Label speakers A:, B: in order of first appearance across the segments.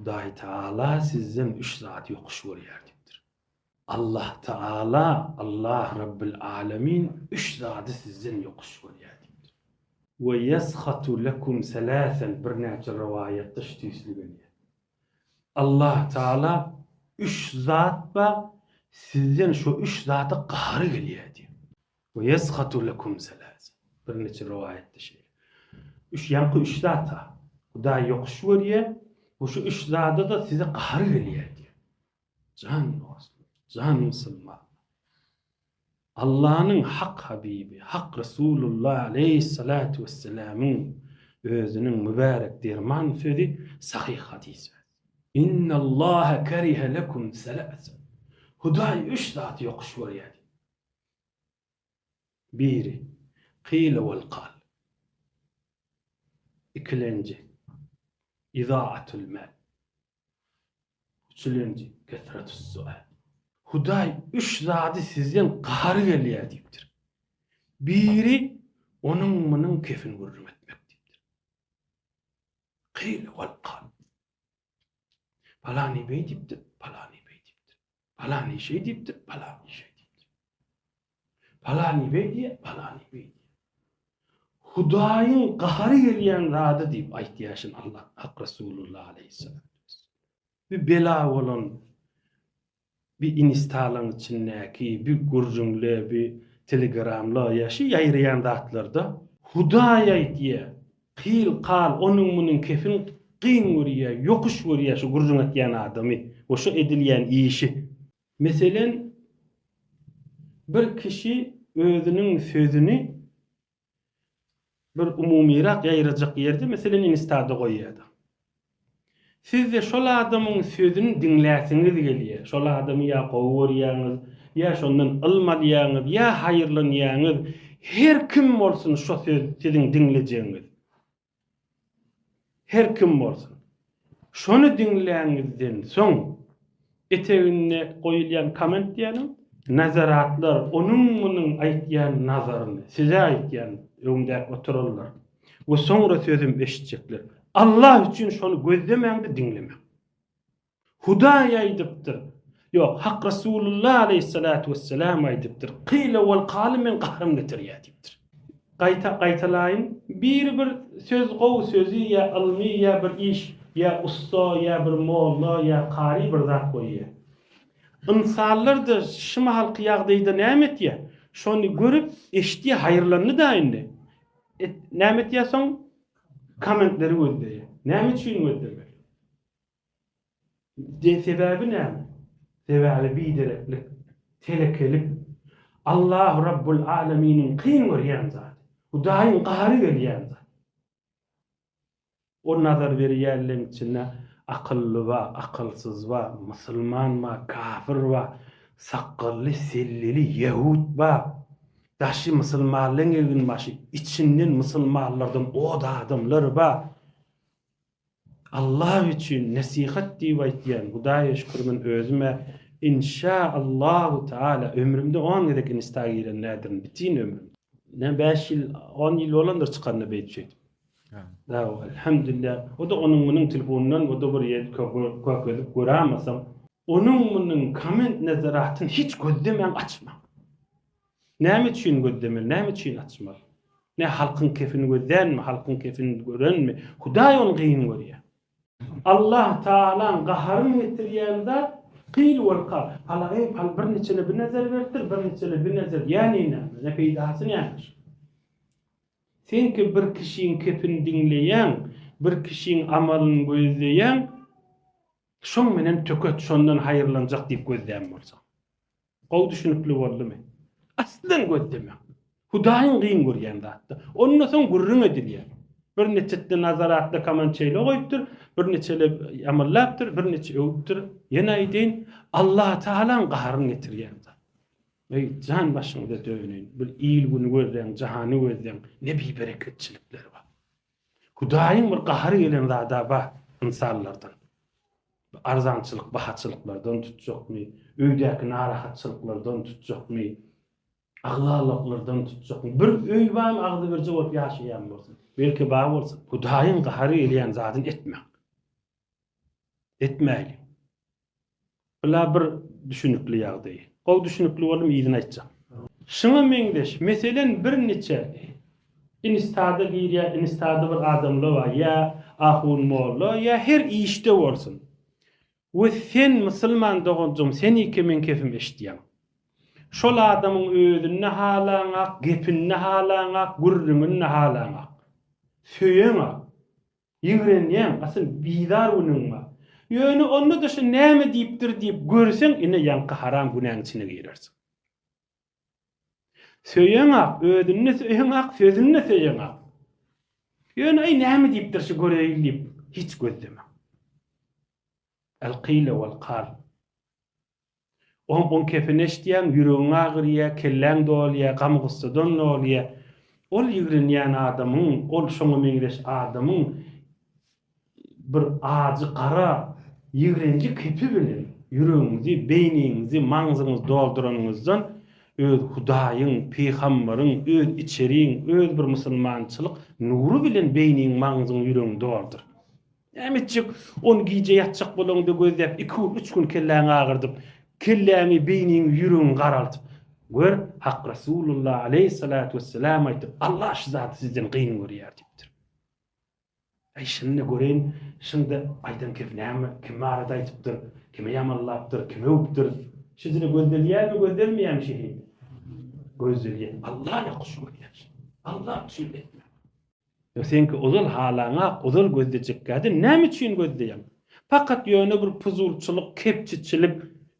A: Hudaýtagala sizden üç zat ýokuş görýär diýipdir. Allahtagala, Allah Rabbil Alamin, üç zady sizden ýokuş görýär diýipdir. Ve yeskhatu lekum selasen birnäçe rowaýatda şu tüýsli gelýär. Allahtagala üç zat bar, sizden şo üç zada gahary gelýär diýipdir. We yesgatu lekum selase. Birnije rowaýatda şeýle. Üç ýaňky üç zata Hudaý ýokuş görýär we şu üç zada-da size gahar gelýär diýýär. Jan dostlar, jan musulmanlar. Allanyň hak habibi, hak Resulullah aleýhissalatu wessalamyň özüniň mübärek derman sözi sahyh hadys. Innallaha kerihe lekum selase. Hudaý üç zat ýokuş görýär. Biri, Kyýyl ol kal. Ikilenji, Izaatül mal. Üçülenji, Kesretüs sual. Hudaý üç zady sizden gahary gelýär diýipdir. Biri, onuň munuň kefin gürrüň etmek diýipdir. Kyýyl ol kal. Palany beý diýipdir, palany beý diýipdir. Palany şeý diýipdir, palany şeý diýipdir. Palany beý diýe, palany beý diýe. Hudaýyň gahary gelýän zady diýip aýtýaşyn Allah Hak Resulullah aleyhisselam. Bir bela bolan bi instalaň içindäki bi gürrüňle bi telegramla ýa şi ýaýraýan zatlarda hudaý aýtýa kyl kal onuň munuň kefin gyn görýä ýokuş görýä şu gürrüň etýän adamy we şu edilýän işi meselen bir kişi özüniň sözüni bir umumyrak ýaýrajak ýerde meselem instada goýýada. Sizde şol adamyň sözüni diňläsiňiz gelýä, şol adamy ýa gowy görýäňiz, ýa şondan ylm alýaňyz, ýa haýyrlanýaňyz, her kim bolsun şo söz siziň diňlejegiňiz. Her kim bolsun. Şony diňläňizden soň eteginde goýulýan komment diýänim nazaratlar onuň munuň aýtýan nazaryny size aýtýan öňdäki oturanlar we soňra sözüm eşitjekler Allah üçin şony gözlemäňde diňlemäň. Hudaý aýdypdyr. Ýok, Hak Resulullah aleýhissalatu wessalam aýdypdyr. Kyle wal kaly meň gahrym getirýär diýipdir. Gaýta gaýtalaýyn, biri bir söz gowy sözi ýa ylmy ýa bir iş, ýa ussa, ýa bir molla, ýa kary bir zat goýýar. Ynsanlar-da şu mahalky ýagdaýda näme etýär? Şony görüp, eşitýär, haýyrlandy-da indi. Näme etýär soň? Kommentleri gözleýär. Näme üçin gözlemeli? Sebäbi näme? Sebäbi bidereklik, telekelik, Allah Rabbul Alaminiň kyn görýän zady, Hudaýyň gahary gelýän zat. O nazar berýänleň içinde akylly bar, akylsyz bar, musulman bar, kafir bar, sakgally, sellili, ýehut bar. Daşy musulmanlaň eginbaşy, içinden musulmanlardan od adamlar bar. Allah üçin nesihat diýip aýtýan hudaýa şükür men özümä inşa Allahu taala ömrümde on gezek insta giren nädirin bitin ömrümde. Ne bäş ýyl on ýyl bolandyr çykanyna beýdip şeýdip. Dawa elhamdülillah o da onuň munuň telefonundan o da bir ýer körkezip görämasam. Onuň munuň komment nazaratyn hiç gözlemäň açmaň. Näme üçin gözlemeli, näme üçin açmaly? Nä, halkyň kefini gözlänmi, halkyň kefini görenmi? Hudaý ony gyn görýär. Allah Tagalaň gaharyny getirýän zat, Kyl wal kal, Palagyň pal birniçene bir nezer beripdir, birniçene bir nezer, ýäni näme, ne peýdasy näme şuň? Seňki bir kişiň kefini diňleýäň, bir kişiň amalyny gözleýäň, şoň bilen töket, şondan haýyrlanjak diýip gözlän bolsaň. Gowy düşünikli boldumy? Aslan gözleme. Hudaýyň gyn görýän zatda. Onda soň gürrüň edilýär. Bir neçetde Nazar atly kaman şeýle goýupdyr, bir neçeler ýamallapdyr, bir neçe öwüpdir. Ýene aýdaýyn, Allatagalaň gaharyny getirýän zat. Eý, jan başyňyza döneýin. Bir il-güni gözleň, jahany gözleň, ne bibereketçilikler bar. Hudaýyň bir gahary gelen zada bar, ynsanlardan, arzançylyk, bahaçylyklardan tutjakmy, öýdäki narahatçylyklardan tutjakmy, agzalyklardan tutjakmy, bir öý bar, agzybirje bolup ýaşaýan bolsun, belki bar bolsun, Hudaýyň gahary gelýän zadyny etmäň. Etmäýliň. Bula bir düşünikli ýagdaý. Gowy düşünikli boldum yzyny aýtjak. Şuňa meňzeş meselen bir niçe instada girýä instada bir adamla bar ýa ahun molla ýa her işde bolsun we sen musulman doganjygym senike meň kefim eşitýäň şol adamyň özünde halaňak gepinde halaňak gürrüňinde halaňak söýeňak Ýigrenýäň, asyl bizar günüň bar. Ýöne onda-da şu näme diýipdir diýip görseň, ine ýaňky haram günäň içine girersiň. Söýeňak, özüni-de söýeňak, sözüni-de söýeňak. Ýöne aý näme diýipdir şu göreýin diýip hiç gözlemäň. Al-kyle wal-kal. Oňa on kepin eşitýäň, ýüregiň agyrýar, kelläň dolýar, gam-gussadan dolýar. Ol ýigrenýän adamyň, ol şoňa meňzeş adamyň bir ajy gara ýigrenji kepi bilen ýüregiňizi, beýniňizi, maňzyňyzy dolduranyňyzdan öz Hudaýyň, pygambaryň, öz içeriň, öz bir musulmançylyk nury bilen beýniň, maňzyň, ýüregiň doldur. Näme etjek? Ony gije ýatjak bolaňda gözläp, iki gün, üç gün kelläňi agyrdyp, kelläňi, beýniňi, ýüregiňi garaldyp gör, Hak Resulullah aleýhissalatu wessalam aýtdy, Allah şu zady sizden gyn görýär diýipdir. Äý, şindi göreýin, şindi aýdan gep näme? Kim barada aýdypdyr? Kimi ýamanlapdyr? Kimi öwüpdir? Şu dile gözdelýärmi, gözdelmeýärmi şeýle? Gözdelýär. Allah ýokuş görýär. Allah üçin etme. Ýa seňki ozal halaňak ozal gözlejekkädin näme üçin gözleýäň? Pakat ýöne bir puzulçylyk, kepçiçilik,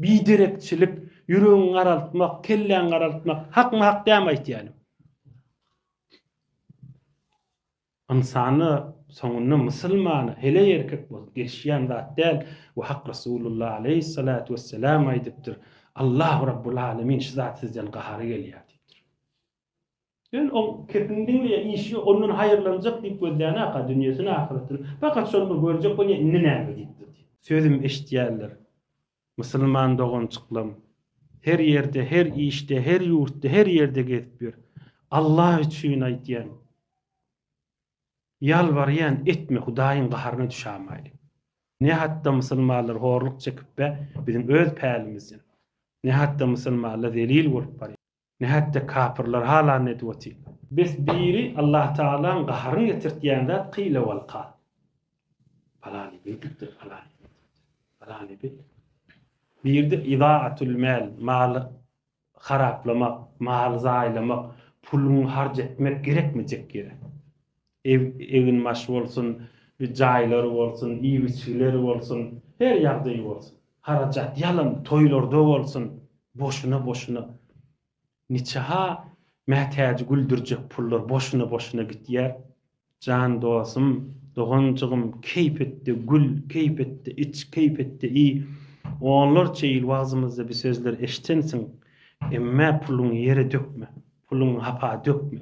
A: biderekçilik, ýüregiňi garaltmak, kelläňi garaltmak hakmy hak dämi aýtýanym? Ynsana soňunda musulmana heleý erkek bolup gelişýän zat däl we Hak Resulullah aleýhissalatu wessalam aýdypdyr, Allahu Rabbul Alemin şu zat sizden gahary gelýär diýipdir. Ol oň kepini diňleýär, işi ýok, ondan haýyrlanjak diýip gözleýän-aka dünýesini, ahyratyny. Pakat şony bir görjek bolýar, indi näme diýip durdy. Sözüm eşidýärler, musulman doganjyklam. Her ýerde, her işde, her ýurtda, her ýerde gezip ýör. Alla üçin aýdýan, ýalbarýan, etme, Hudaýyň gaharyna düşämaýly. Ne hatda musulmanlar horluk çekip-ä, biziň öz pälimizden. Ne hatda musulmanlar zelil bolup barýar. Nätde kapyrlar hala ne edip otyr. Bes biri Allah Taalaň gaharyny getirtýän zat kyle wal kal. Palany beýdipdir, palany beýdipdir. Palany beý. Birde idaatul mal, maly haraplamak, maly zaýalamak, puluňy harç etmek gerekmejek ýere. Eginbaş bolsun, jaýlary bolsun, iýip-içgileri bolsun, her ýagdaýy bolsun. Harajat ýalam toýlarda bolsun, boşuna-boşuna. Niçe-ha Mätäji güldürjek pullar boşuna-boşuna gitýär. Jan dosum, doganjygym, keýp etde gül, keýp etde iç, keýp etde iý. Onlarça ýyl wagzymyzda bi sözleri eşidensiň. Emmä puluňy ýere dökme. Puluňy hapa dökme.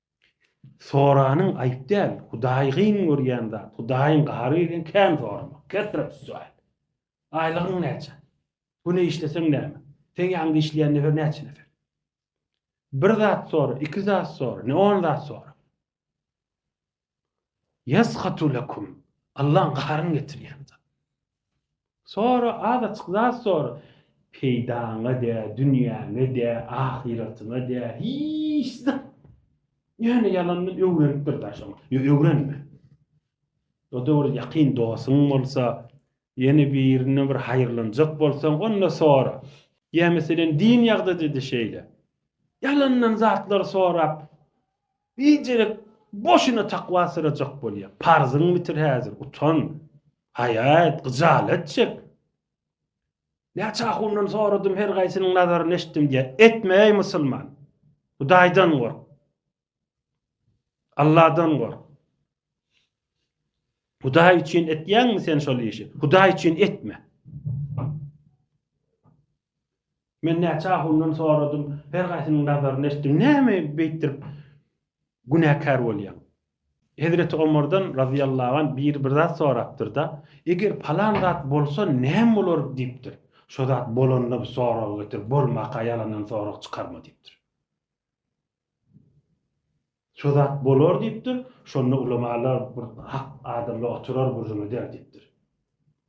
A: Soranyň aýp däl, Hudaýy gyn görýän zat, Hudaýyň gahary gelýän kän soramak, kesret sual. Aýlygyň näçe? Bu ne işleseň näme? Seň ýanyňda işleýän nefer näçe nefer? Bir zat sora, iki zat sora, ne on zat sora. Ýesgatu lekum, Allaň gaharyny getirýän zat. Sora, az açyk zat sora. Peýdaňa dä, dünýäňe dä, ahyratyňa dä, hiç zat. Ýöne ýalandan öwrenip bir daş oňa. Ýöne öwrenme. O-da bir ýakyn dostuň bolsa, ýene birine bir haýyrlanjak bolsaň, onda sora. Ýa meselem din ýagdady-da şeýle. Ýalandan zatlar sorap, Biderek boşuna takwa syrajak bolýa. Parzyňy bitir häzir, utan. Haýa et, gyjalat çek. Näçe ahundan soradym, her gaýsynyň nazaryny eşitdim diýýär. Etme eý musulman. Hudaýdan gork. Allahdan gork. Hudaý üçin etýäňmi sen şol işi? Hudaý üçin etme. Men näçe ahundan soradym, her gaýsynyň nazaryny eşitdim, näme beýtdirip günäkär bolýaň? Hezreti Omardan razyýallahu anh biri bir zat sorapdyr-da, Eger palan zat bolsa, näme bolar? diýipdir. Şo zat bolanda bu soragy getir, bolmaka ýalandan sorag çykarma diýipdir. Şo zat bolar diýipdir. Şonda ulamalar bir hak adamlar oturar bir züm eder diýipdir.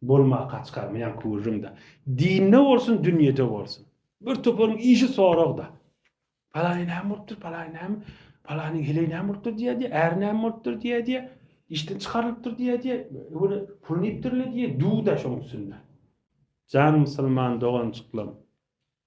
A: Bolma kaçka men kürrüm-de. Dinde bolsun, dünýede bolsun. Bir toparyň işi sorag-da. Palany näme bolupdyr, palany näme, palanyň heleý näme bolupdyr diýer-diýer, äri näme bolupdyr diýer-diýer, işden çykarylypdyr diýer-diýer, öwre pul iýipdir-le diýer, duw-da şoň üstünde. Jan musulman doganjyklarym!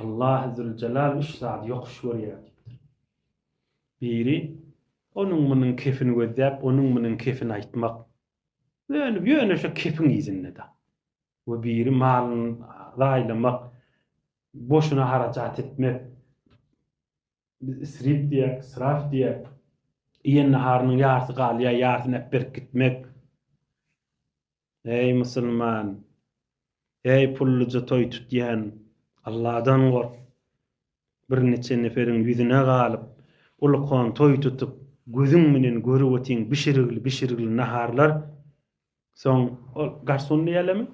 A: Allahy Züljelal üç zady ýokuş görýär diýipdir. Biri, onuň-munuň kepini gözläp, onuň-munuň kepini aýtmak. Dönüp, ýöne şo kepiň yzynda-da. We biri malyny zaýlamak, boşuna harajat etmek. Biz isrip diýýäris, israf diýýäris. Iýen naharynyň ýarsy galýar, ýarsyny äp berip gitmek. Eý, musulman! Eý, pulluja toý tutýan! Alladan gork! Birniçe neferiň ýüzüne galyp, ulkan toý tutup, gözüň bilen görüp otyň bişirgili-bişirgili naharlar, soň ol garson diýälermi,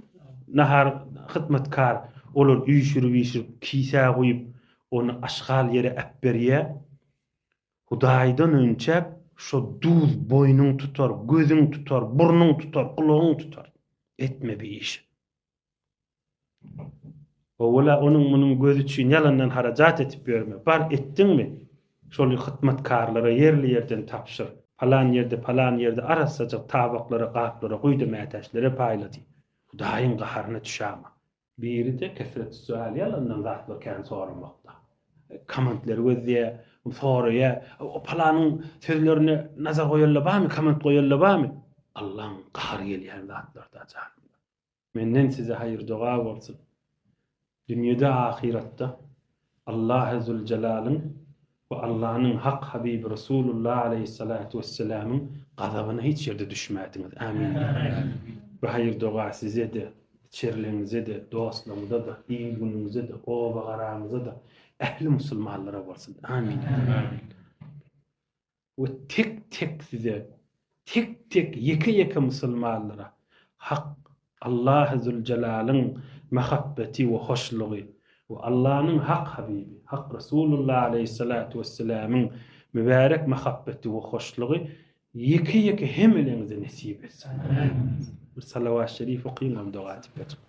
A: nahar hyzmatkar olar üýşürip-üýşürip kisä guýup, ony aşgal ýere äpberýär. Hudaýdan önçäp, şo duz boýnuň tutar, gözüň tutar, burnuň tutar, gulagyň tutar. Etme bi işi. Owala onuň-munuň gözi üçin ýalandan harajat edip ýörme. Bar, etdiňmi? Şol hytmatkarlara ýerli ýerden tabşyr. Palan ýerde, palan ýerde arassajyk tabaklara, gaplara guýdy, mätäçlere paýla diý. Hudaýyň gaharyna düşäma. Biri-de kesret sual ýalandan zatlar kän soramakda. Komentleri gözleýä, soraýa, o palanyň sözlerine nazar goýanlar barmy, koment goýanlar barmy? Allaň gahary gelýän zatlarda jan. Menden size haýyr doga bolsun. Dünýede ahyratda. Allahy Züljelalyn we Allanyň hak Habibi Resulullah aleýhyssalatu wesselamyň gazabyna hiç ýerde düşmädiňiz. Amin. Bu haýyr-doga size-de, içerligiňize-de, dostlaryňyza-da, il-günüňize-de, oba-garaňyza-da, ähli musulmanlara bolsun. Amin. we tek-tek size, tek-tek ýeke-ýeke musulmanlara Hak Allahy Züljelaliň mahabbeti we hoşlugy we Allanyň Hak Habibi, Hak Resulullah Aleýhissalatu Wesselämiň mübärek mahabbeti we hoşlugy ýeke-ýeke hemeleňize nesip etsin! Amin! Bir salawat şerif okyň, ol doga tipä çykyp.